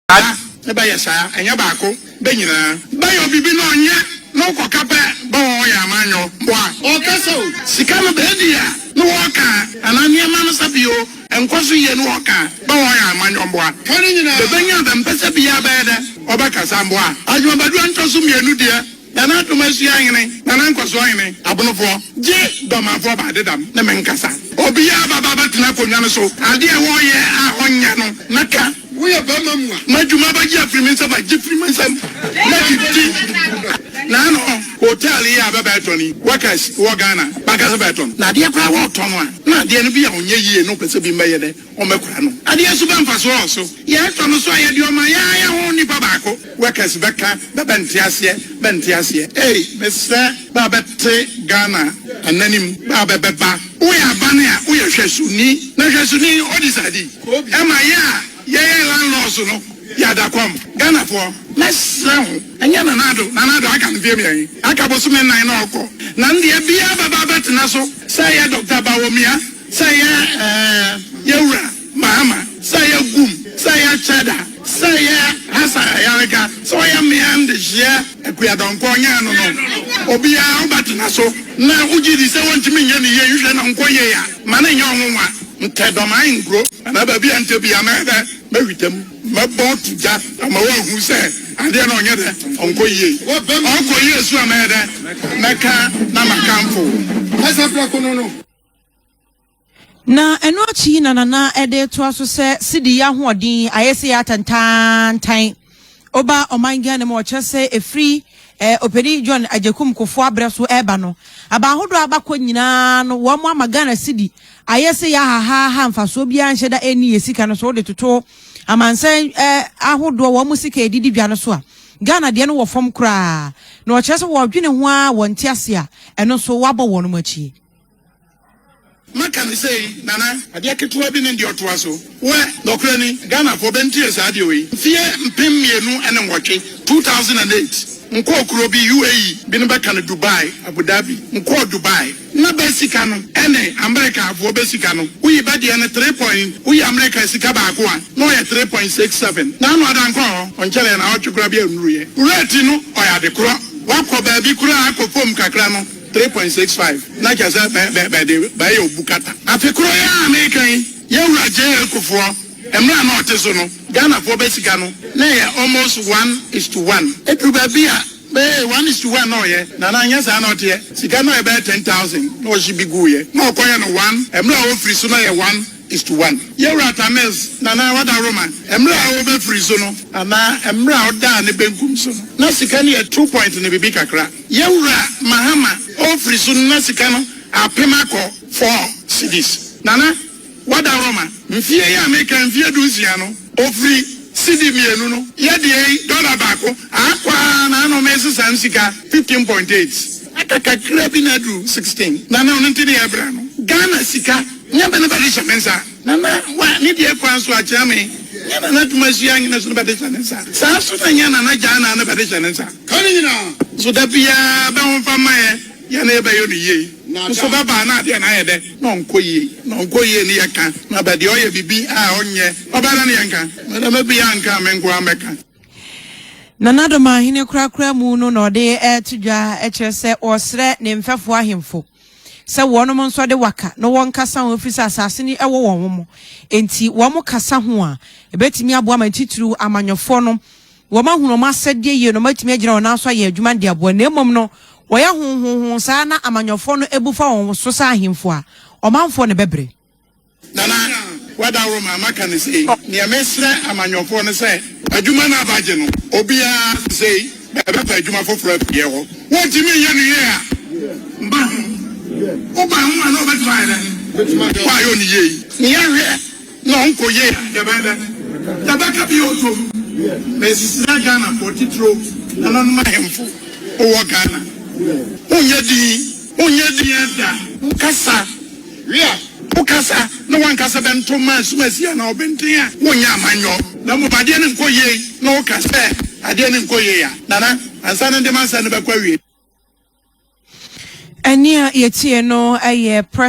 A, ne ba yɛ saa, ɛnyɛ baako, bɛ nyinaa. Bɛ yɔ bibi na ɔnyɛ, na ɔkɔ ka pɛ, bɛ wɔ ɔyɛ ama nyɔ, bɔ a. Ɔka sɛ o, sika no bɛ di a, ne wɔ ɔka a, anaa nneɛma no sɛ bi o, ɛnkɔ so yie, ne wɔ ɔka a, bɛ wɔ ɔyɛ ama nyɔ, bɔ a. Bɛ bɛ nya a bɛ mpɛ sɛ biaa bɛyɛ dɛ, ɔbɛ ka saa, bɔ a. Adwuma bɛ doɔ ntɔ so mmienu deɛ. Nana Adom Asua Hene, Nana Nkɔsoɔ Hene, Abonofoɔ, gye Dormanfoɔ ba Adedam ne me nkasa. Obiara ba ba bɛtena akonnwa no so. Adeɛ a ɛwɔ yɛ a ɔnyɛ no, mɛka. Woyɛ barima mua. Ma dwuma ba gye afiri me nsam a, gye firi me nsam na didi. Na ano hotel yi a bɛ bɛɛtɔn yi, workers wɔ Ghana, bɛankasa bɛɛtɔn. Na adeɛ koraa wɔɔtɔn a, na adeɛ no bi a ɔnyɛ yie na ɔpɛ sɛ bi mbɛyɛ dɛ. wɔbɛkora no. Adeɛ nso bɛ mfasoɔ wɔ so? Yɛɛ tɔ no so a yɛde ɔma yɛ ara yɛ ho nipa baako. Workers bɛ ka bɛ bɛ nte aseɛ bɛ nte aseɛ. Ei mesrɛ bɛ a bɛ te Ghana ananim bɛ a bɛ bɛ ba. Wo yɛ abane a wo yɛ hwɛsoni na hwɛsoni ɔdi saa di. Ɛma yɛ a yɛ yɛ landlords no yɛ ada kɔm. Ghanafoɔ mɛ srɛ ho ɛnyɛ Nana Addo Nana Addo aka mfeɛ mmiɛn aka bosome nnan na ɔkɔ na ndeɛ biara bɛ ba bɛ tena so sɛ yɛ Doctor Bawomia. Sɛ yɛ ɛɛ yɛ wura Mahama, sɛ yɛ Gum, sɛ yɛ Chada, sɛ yɛ Hassan Ayariga, sɛ ɔyɛ mmea ndehyeɛ Akua Donkor nyɛ ɛno no, obiara wo bɛ tena so na wo gye di sɛ wɔntumi nyɛ ne yie nhwɛ na ɔnkɔ yie a, ma no nyɛ wo nwonwa. Ntɛ dɔ m'an nkuro anaa baabi a ntɛ biara mɛ dɛ mɛ hwitɛ mu, mɛ bɔ to gya ama wo ahu sɛ adeɛ no ɔnyɛ dɛ ɔnkɔ yie. Ɔkɔ yie so a mɛ yɛ dɛ mɛ ka na ma kanfo wo. Ɛsɛ prɛko no no. Na ɛno akyi na nana ɛde toa so sɛ sidi yɛ ahoɔden ayɛ sɛ yɛ atantantan ɔba ɔman gya no mu ɔkyerɛ sɛ ɛfiri eh, ɔpanin john agyakum kofo abrɛ so ɛreba no aba ahodoɔ abakɔ nyinaa no wɔn ama ghana sidi ayɛ sɛ yɛ ahahaha mfasoɔ biara nhyɛ da ɛnni yɛ sika no so wode toto amansan eh, ahodoɔ wɔn mo sika ɛdidi dwa no so a ghana deɛ no wɔ fam koraa na ɔkyerɛ sɛ wɔdwene ho a wɔnte ase a ɛno nso wɔabɔ wɔn mo akyi Maka no sei, Nana. Adeɛ ketewa bi ne deɛ ɔtoa so. Wɛ, nɔkorɛ ni, Ghanafoɔ bɛntie saa adeɛ wei. Mfeɛ mpem mmienu ne nwɔtwe, 2008, nkɔɔ kuro bi, UAE, binom bɛka no Dubai, Abu Dhabi, nkɔɔ Dubai, na bɛ sika no ne Amerikafoɔ bɛ sika no, woyi bɛ deɛ no three point, woyi Amerika sika baako a, na ɔyɛ three point six seven. Na ano ada nkɔɔ hɔ, ɔnkyɛrɛɛ naawɔtwe koraa bi annuruiɛ. Rate no, ɔyɛ adekorɔ. Woakɔ baabi koraa akɔ fam kakra no, three point six five na kyerɛ sɛ bɛ bɛ bɛde bɛyɛ obu kata. Afe koro yi a meka yi, Yawura JA Kufuor mmra a na ɔte so no, Ghanafoɔ bɛ sika no na ɛyɛ almost one is to one. Ɛduru baabi a, bɛyɛ one is to one na ɔyɛ, na na nyɛ saa na ɔteɛ. Sika no a ɛbɛyɛ ten thousand na ɔhye bi guuiɛ na ɔkɔyɛ no one, mmra a ɔfiri so na ɛyɛ one Ist. One. Yewura Tamils na na ɔda Roman mmere a ɔrebɛfiri so no, anaa mmere a ɔdaa ne benkum so no, na sika no yɛ two point ne biribi kakra. Yewura Mahama ɔrefiri so no, na sika no apem akɔ four cedis. Na na wada Roman. Mfeɛ yi a mereka mfeɛ dunsia no, ɔfiri cedi mmienu no yɛ deɛ yi, dɔla baako, akɔ ara na ano meresesa no sika fifteen point eight. Aka kakra bi na aduru sixteen, na na ɔno nti ne yɛrebra no Ghana sika. Nyɛ bɛ ne bɛde hyɛ me nsa. Nana wa ne deɛ kwan so akyea me. Nyɛ Nana adwuma sua nyina so ne bɛde hyɛ ne nsa. Saa so na nyɛ Nana gyaa na ne bɛde hyɛ ne nsa. Ka ne nyina so da biaa bɛ ho mfa mma yɛ. Yɛ ne yɛ bɛ yɔ no yie nso bɛ baa na adeɛ na ayɛ dɛ. Na ɔnkɔ yie na ɔnkɔ yie ne yɛ ka na bɛ deɛ ɔyɛ bibi a ɔnyɛ ɔbaa na ne yɛ nka. Madame bi a nka me nkoaa mɛ ka. Nana Domaahene korakora mu no na ɔde reto dwa kyerɛ sɛ ɔsrɛ ne mfɛfoɔ ahemfo. sɛ wɔnom nso de waka no wɔnkasa ho ɛfiri sɛ asase no wɔ wɔn mo enti wɔn kasa ho a ɛbɛtumi aboa ma titiriw amanyɔfoɔ no wɔn ahunu wɔn asɛdeɛ yie na wɔn atumi agyina wɔn nan so ayɛ adwuma de aboa na mmom no wɔyɛ honhonhon saa na amanyɔfoɔ no abu fa wɔn so sɛ ahemfo a ɔmanfoɔ no bɛbrɛ Nana, w'adaworo maa maka no sei. Neɛ mesrɛ amanyɔfoɔ no sɛ adwuma no abagye no, obiara sesei bɛfa adwuma foforɔ afiri yɛ hɔ. Wontumi nyɛ no yie a, mba ho. Woba ho a na ɔbɛtumi ayɛ dɛn? Woayɛ ɔne yie yi. Neɛ hwɛ na ɔnkɔ yie a, yɛbɛyɛ dɛn? Yɛbɛka bio atom. Mesrɛ Ghanafoɔ, titiriw nananom ahemfo, wowɔ Ghana, wonyɛ din. Wonyɛ dea da, wokasa we a, wokasa na wankasa bɛnto mmaa asumasie anaa ɔbenten a, wonyɛ amanyɔ. Na mmom adeɛ no nkɔ yie na woka sɛ adeɛ no nkɔ yie a, Nana, ansa no nde m'asɛm no bɛkɔ awiei. Ɛnne a yɛtiee no yɛ Pres.